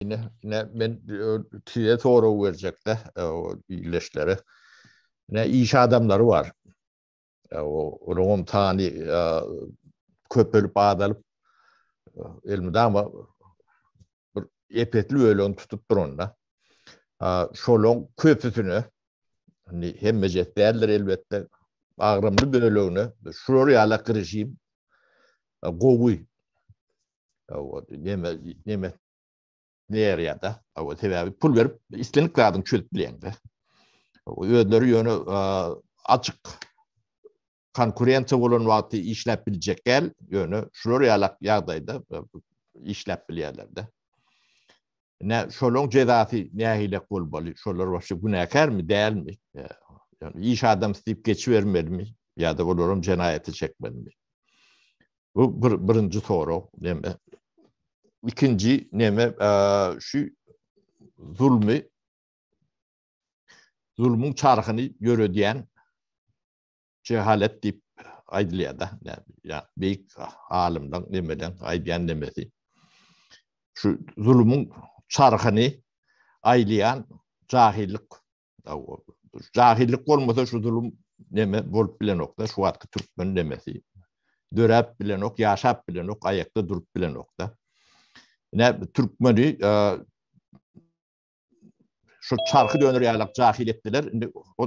Ine, ine men size sorag berjekde, o illeşlere. Ne iş adamlary bar. O onuň sany köpelip azalyp elmidama bir epetli ölen tutup duranda. Şolon köpüsüne hani hemme cetlerler elbette agramly bölüne şurur yala girişim gowy Hawa, näme, näme näýärýär-de. Hawa, sebäbi pul berip islendik zadyny çözüp bilýäň-de. Özleri ýöne açyk konkurensiýa bolan wagty işläp biljek gel, ýöne şular ýalak ýagdaýda işläp bilýärler-de. Nä, şolaryň jezasy nähili bolmaly? Şolar başga günäkärmi, dälmi? Ýöne iş adam istip geçibermelimi ýa-da olaram jenaýaty çekmelimi? Bu bir birinji sorag neme? Ikinji neme şu zulmy zulmyň çarhyny ýöredýän jehalet diýip aýdylýar-da. Ýa beýik alymlaryň nemeden aýdýan nemesi. Şu zulmyň çarhyny aýlaýan jahillik Jahillik bolmasa şu zulum neme bolup bilenokda, şu wagtky türkmen nemesi. Döräp bilenok, ýaşap bilenok, aýakda durup bilenokda. Ine türkmeni şu çarhy döner ýalak jahil etdiler. Indi o